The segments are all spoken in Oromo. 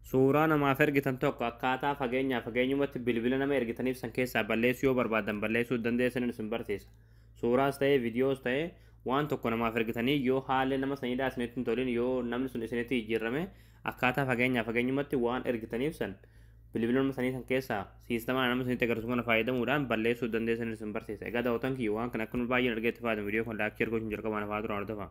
Suuraa namaaf ergitan tokko akkaataa fageenyaa fageenyumatti bilbila nama ergitaniif san keessaa balleessuu yoo barbaadan balleessuu dandeessaniin isin barsiisa. Suuraas ta'ee viidiyoos ta'ee waan tokko namaaf ergitanii yoo haalli nama sanidhaa isinitti hin tolin yoo namni sun isinitti jijjiirrame akkaataa fageenyaa fageenyumatti waan ergitaniif san bilbila nama sanii san keessaa siistamaa nama sanitti agarsiisu kana fayyadamuudhaan balleessuu dandeessaniin isin barsiisa. Egaa daawwatan kiyya waan kana akka nu baay'een argeetti fayyadamu viidiyoo kan laakchii ergoo isin jalqabaan hafaa turan hordofaa.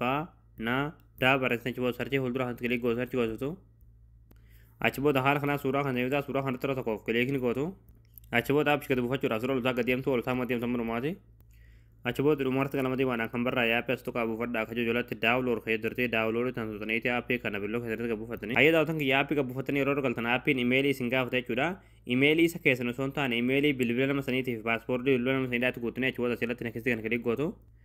fa na da barreessina achi booda sarchii fuuldura kan kilik gootu sarchii gootu achi booda haala kanaa suuraa kan ta'e suuraa kan irra tokkoof kilikni gootu achi booda apps gadi buufachuudhaaf suuraa loltaa gadi deemtu loltaa immoo deemtu manumaati achi booda dhumarratti kan lamadii baanaa kan barraa yaappi as tuqaa buufadha akka jojolatti daawuloor kee dirtee daawuloor tan tutaniiti aappii kana billoo keessatti gad buufatanii ayyee daawwatan kiyya aappii gad buufatanii yeroo galtan aappiin imeelii isin gaafata jechuudha imeelii isa keessan osoo hin taane imeelii bilbila nama saniitiif paaspoortii bilbila nama saniidhaatti guutanii achi booda asirratti nakistii kana kilik gootu